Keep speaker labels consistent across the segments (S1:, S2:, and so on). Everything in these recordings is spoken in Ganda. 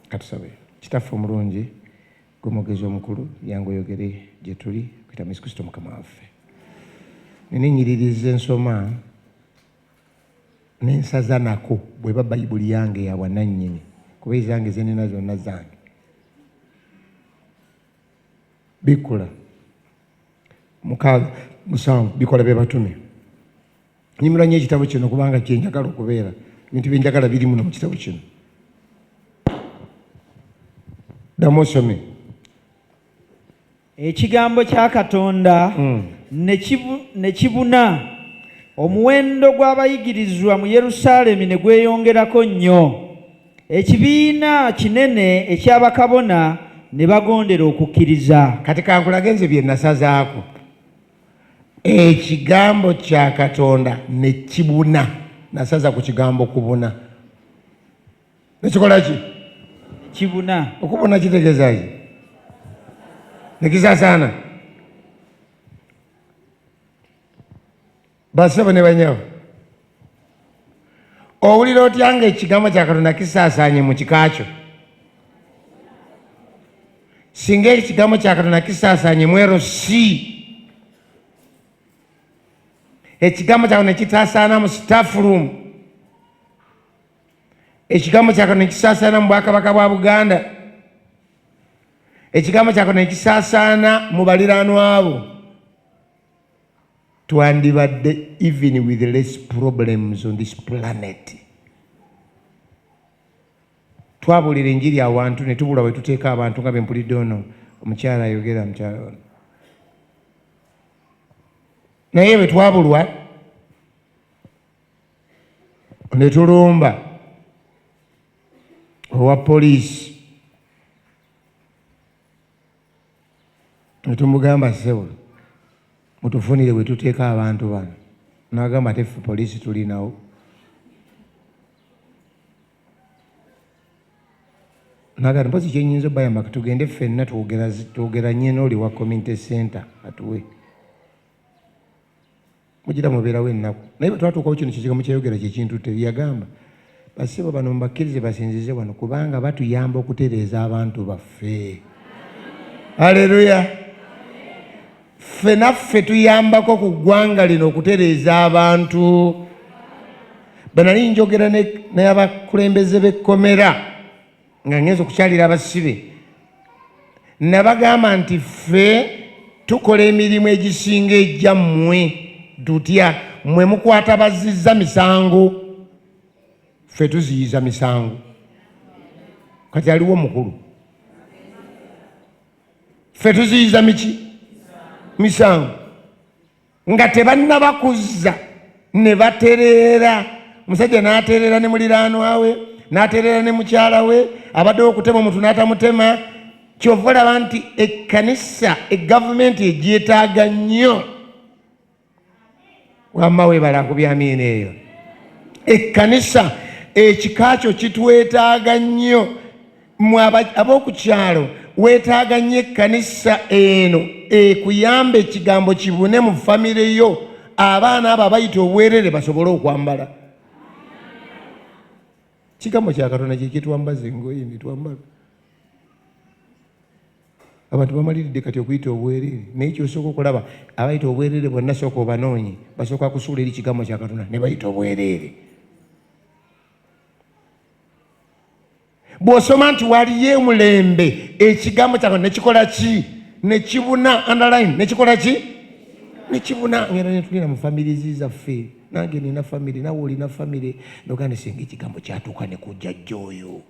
S1: Katusabe. Kitaffe omulungi, gwe mwogezi omukulu, yangu oyogere gye tuli okuyita mu Yesu Kristo Mukama waffe. Nina ennyiririzi ensoma n'ensaza nako bweba bayibuli yange ya bwanannyini kuba ezange ze nina zonna zange. Bikkula mukaaga musanvu bikola bye batume. Nyimira nnyo ekitabo kino kubanga kye njagala okubeera. Ebintu bye njagala biri muno mu kitabo kino. Ddamu osome.
S2: Ekigambo kya Katonda hmm. ne kibuna omuwendo gw'abayigirizwa mu Yerusaalemi ne gweyongerako nnyo. Ekibiina kinene eky'abakabona ne bagondera okukkiriza. Kati kankulage nze
S1: bye nasazaako. Ekigambo kya Katonda ne kibuna. Nasaza ku kigambo kubuna. Nekikola ki? Kibuna.
S2: Okubuna kitegeeza
S1: ki? Nekisaasaana. Basebo ne banyabo, owulira otya nga ekigambo kya Katonda kisaasaanye mu kika kyo? Singa ekigambo kya Katonda kisaasaanye mu LC, ekigambo kya Katonda kitaasaana mu staff room, ekigambo kya Katonda kisaasaana mu bwakabaka bwa Buganda, ekigambo kya Katonda kisaasaana mu baliraanwa bo. twandibadde even with less problems on this planet twabulira enjiri awantu ne tubula we tuteeka abantu nga bempulidde ono omukyala ayogera mukyala ono naye bwe twabulwa ne tulumba owa poliisi ne tumugamba ssebo mutufunire we tuteeka abantu bano n'agamba ate ffe poliisi tulinawo nagati mpozi kyenyinza obayamba tugende ffenna twogeranye n'oli wa community center atuwe mujira mubeerawo ennaku naye bwetwatuukawo kino kizigamu kyayogera kyekintutte byeyagamba basibo bano mubakkirize basinzize wano kubanga batuyamba okutereeza abantu baffe aleluya ffe naffe tuyambako ku ggwanga lino okutereeza abantu bwenali njogera naye abakulembeze b'ekkomera nga ngenza okukyalira abasibe nabagamba nti ffe tukola emirimu egisinga egya mmwe tutya mmwe mukwata bazizza misango ffe tuziyiza misango kati aliwo omukulu ffe tuziyiza miki misango nga tebannaba kuzza ne batereera musajja n'atereera ne muliraanwa we n'atereera ne mukyala we abadde okutema omuntu n'atamutema kyova olaba nti ekkanisa egavumenti egyetaaga nnyo wamma webala ku byamiina eyo ekkanisa ekika kyo kitwetaaga nnyo mwe ab'oku kyalo weetaaga nnyo ekkanisa eno ekuyamba ekigambo kibune mu famire yo abaana abo abayita obwerere basobole okwambala kigambo kya katonda kyekitwambaza engoye netwambala abantu bamaliridde kati okuyita obwerere naye kyosooka okulaba abayita obwerere bonna sooka obanoonye basooka kusuula eri kigambo kya katonda ne bayita obwerere bw'osoma nti waliyo emulembe ekigambo kyawe nekikola ki nekibuna underline nekikola ki nekibuna ngera netulina mu famirizi zaffe nange nina famire nawe olina famire noganda singa ekigambo kyatuuka nekujajja oyo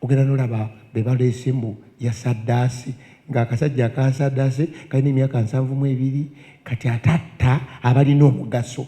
S1: ogenda nolaba bebaleese mbu yasaddaasi ng'akasajja akasaddaase kalina emyaka nsanvu mu ebiri kati atatta abalina omugaso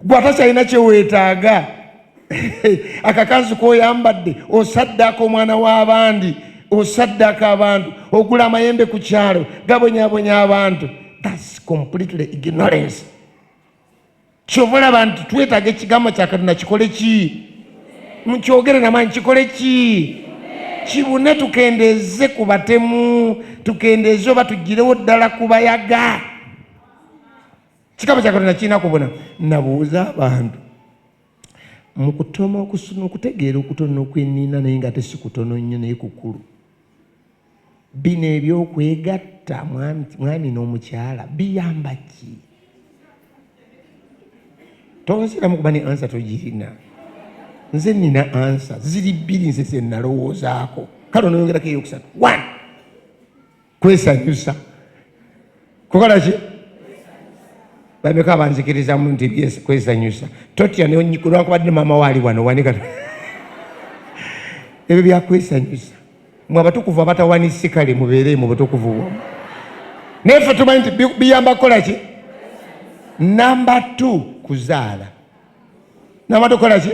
S1: gwe atakyalina kyeweetaaga akakanzi koyambadde osaddaaka omwana w'abandi osaddaaka abantu ogula amayembe ku kyalo gabonyabonya abantu thats completely ignorance kyova olaba nti twetaaga ekigambo kya katonda kikole ki mukyogere namaanyi kikole ki kibune tukendeeze ku batemu tukendeeze oba tugirewo ddala kubayaga Kikaba kya Katonda kirina kubona. Nabuuza abantu mu kutoma okusoma okutegeera okutono okwenina naye nga tesi kutono nnyo naye kukulu bino ebyokwegatta mwami n'omukyala biyamba ki tonsiramu kuba ne ansa togirina nze nina ansa ziri bbiri nze zenalowoozaako kale onoyongerako eyokusatu one kwesanyusa kukola ki bameka abanzikirizamu nti kwesanyusa totya olwakubadde maama waali wano wanika ebyo byakwesanyusa mwe abatukuvu abatawanyisi kale mubeere mu butukuvu bwamu naye fe tumanyi nti biyamba kukola ki namba t kuzaala nabadde okola ki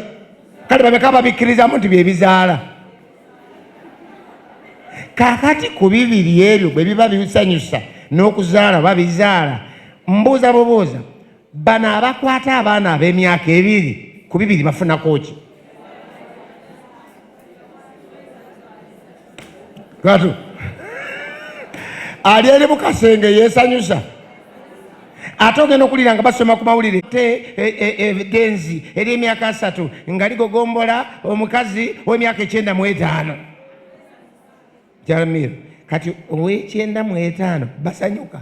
S1: kale babeka babikkirizamu nti byebizaala kakati ku bibiri ebyo bwe biba bisanyusa n'okuzaala babizaala mbuuza bubuuza bano abakwata abaana ab'emyaka ebiri ku bibiri bafunako ki Katu ali eri mu kasenge yeesanyusa ate ogenda okuwulira nga basoma ku mawulire te evidenzi e, e, e, ery'emyaka asatu nga ligogombola omukazi w'emyaka ekyenda mu etaano jaramir kati ow'ekyenda mu etaano basanyuka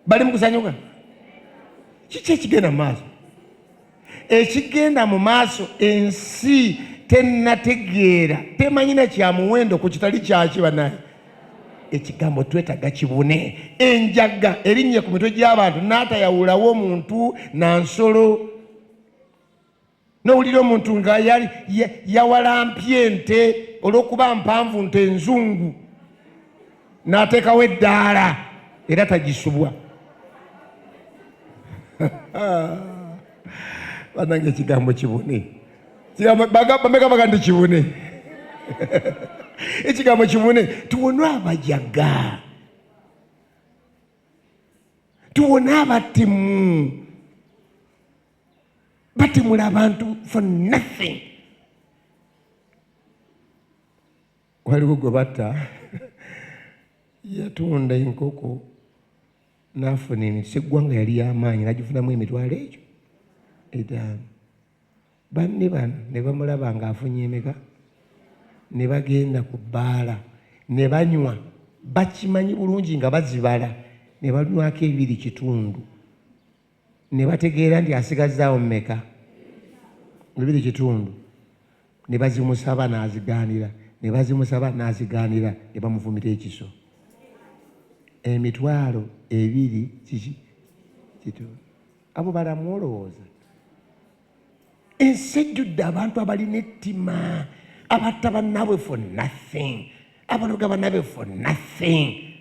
S1: bali mu kusanyuka kiki ekigenda mu maaso ekigenda mu maaso ensi tenategeera temanyina kya muwendo ku kitali kyaki banaye ekigambo twetaga kibune enjaga erinnye ku mitwe gy'abantu n'atayawulawo omuntu na nsolo nowulira omuntu nga yawalampye ente olw'okuba mpanvu nte enzungu n'ateekawo eddaala era tagisubwa banange ekigambo kibune bameka baga nti kibune ekigambo kibune tuwone abajaga tuwone abatimu batemula abantu for nothing waliwo gwe batta yatunda enkoko n'afuna emiti seggwanga yali y'amaanyi nagifunamu emitwalo egyo etaano banne bano ne bamulaba ng'afunye emeka ne bagenda ku bbaala ne banywa bakimanyi bulungi nga bazibala ne balunywako ebiri kitundu ne bategeera nti asigazzaawo mmeka bibiri kitundu ne bazimusaba n'azigaanira ne bazimusaba n'azigaanira ne bamufumita ekiso emitwalo ebiri kiki kitundu abo balamu olowooza ensi ejjudde abantu abalina ettima abatta bannaabwe for nothing abaloga bannaabwe for nothing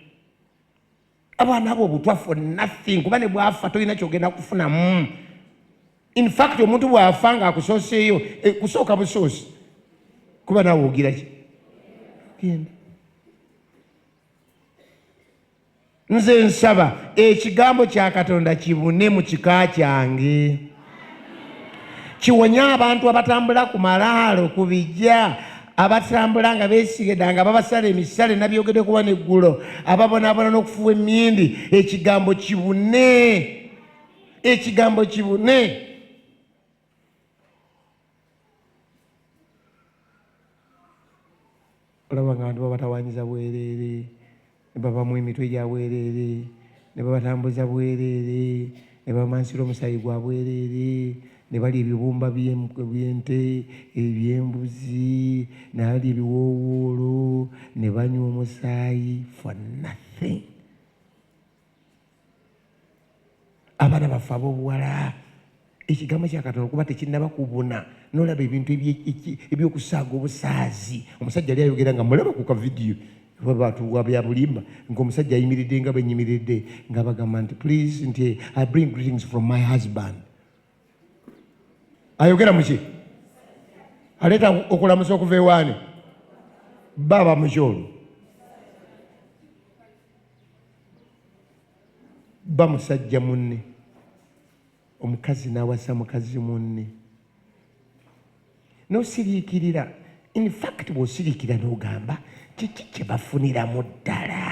S1: abaana abo obutwa for nothing kuba ne bwafa tolina kyogenda kufunamu infact omuntu bwafa nga akusooseeyo eh, kusooka busoosi kuba nawe ogiraki genda nze nsaba ekigambo kya katonda kibune mu kika kyange kiwonye abantu abatambula ku malaalo ku bijja abatambula nga besigeda nga babasala emisale nabyogede kuba neggulo ababonabona n'okufuwa emindi ekigambo kibune ekigambo kibune olaba nga abantu babatawanyiza bwereere ne babamu emitwe gya bwereere ne babatambuza bwereere ne bamansira omusaayi gwa bwereere ne balya ebibumba by'ente eby'embuzi ne balya ebiwoowoolo ne banywa omusaayi for nothing abaana baffe abobuwala ekigambo kyakatonda okuba tekinaba kubuna nolaba ebintu ebyokusaaga obusaazi omusajja ali ayogera nga mulaba ku kavidiyo babatuwa byabulimba ngaomusajja ayimiridde nga benyimiridde nga bagamba nti please nti i bring greetings from my husband ayogera muki aleeta okulamusa okuva ewaani baba mukyolo bamusajja munne omukazi n'awasa mukazi munne nosiriikirira in fact bw'osiriikira n'ogamba kiki kye bafuniramu ddala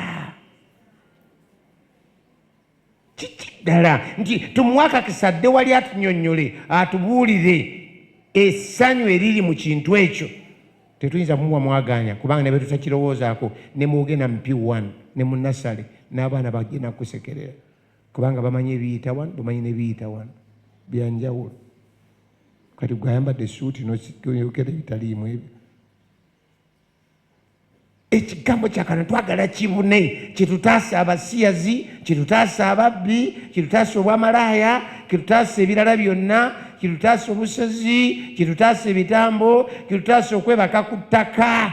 S1: kiki ddala nti tumuwe akakisa adde wali atunyonnyole atubuulire essanyu eriri mu kintu ekyo tetuyinza kumuwa mwagaanya kubanga ne betutakirowoozaako ne muwoge na mpi one ne munasale n'abaana bagenda kusekerera kubanga bamanyi ebiyita wano bamanyi nebiyita wano byanjawulo kati gweayambadde esuuti noyogera ebitaliimu ebyo ekigambo kyakana twagala kibune kitutaasa abasiyazi kitutaasa ababbi kitutaasa obwamalaaya kitutaasa ebirala byonna kitutaasa obusozi kitutaasa ebitambo kitutaasa okwebaka ku ttaka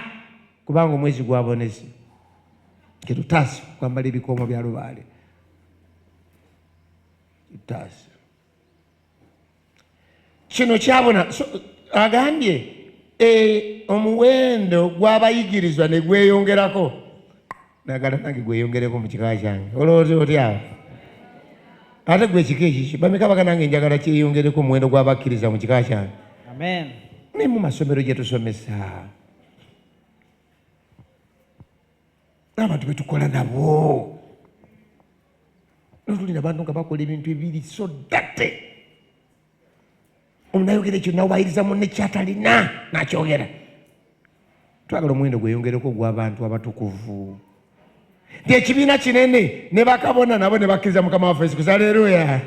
S1: kubanga omwezi gwabonezi kitutaasa okwambala ebikoomo bya lubaale kitutaasa kino kyabona so, agambye e, omuwendo gw'abayigirizwa ne gweyongerako nagala nange gweyongereko mu kika kyange olowooza otyawo ate gwe ekika ekiki bameka baga nange njagala kyeyongereko omuwendo gw'abakkiriza mu kika kyange naye
S2: mu masomero
S1: gye tusomesa abantu betukola nabo notuli nabantu nga bakola ebintu ebiri so date omunayogera ekyo nawayiriza munne kyatalina nakyogera twagala omuwendo gweyongereko ogwabantu abatukuvu nti ekibiina kinene ne bakabona nabo ne bakkiriza mukama waffe yesu kristo aleeruya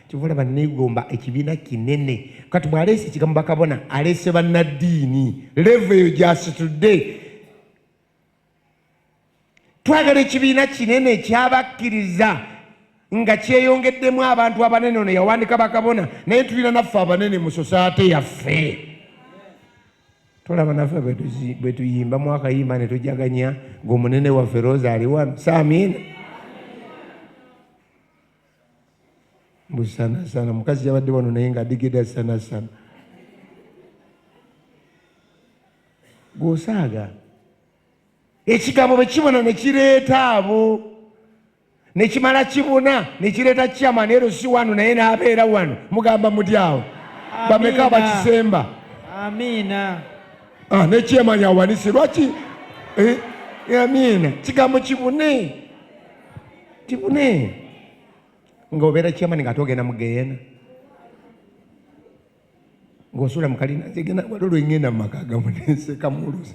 S1: kivula banneegomba ekibiina kinene kati bw'aleese ekigambo bakabona aleese bannaddiini levo eyo gyasitudde twagala ekibiina kinene ekyabakkiriza nga kyeyongeddemu abantu abanene ono yawandika bakabona naye tulina naffe abanene mu sosaate yaffe tolaba naffe bwe tuyimba mwakayimba ne tujaganya ng'omunene waffe rosa aliwano saamiina mbu sanasana mukazi yabadde wano naye nga adigida sanasana gwosaaga ekigambo bwe kibona ne kireeta abo ne kimala kibuna ne kireeta kyama naye lwo si wano naye n'abeera wano mugamba muti awo bameka abakisemba amiina
S2: ah, ne
S1: kyama yawanise lwaki eh, amiina kigambo kibune tibune nga obeera kyamani nga ate ogenda mu geyena ng'osula mu kalina nze genda wali olwengenda mu maka gamu nenseka muluzi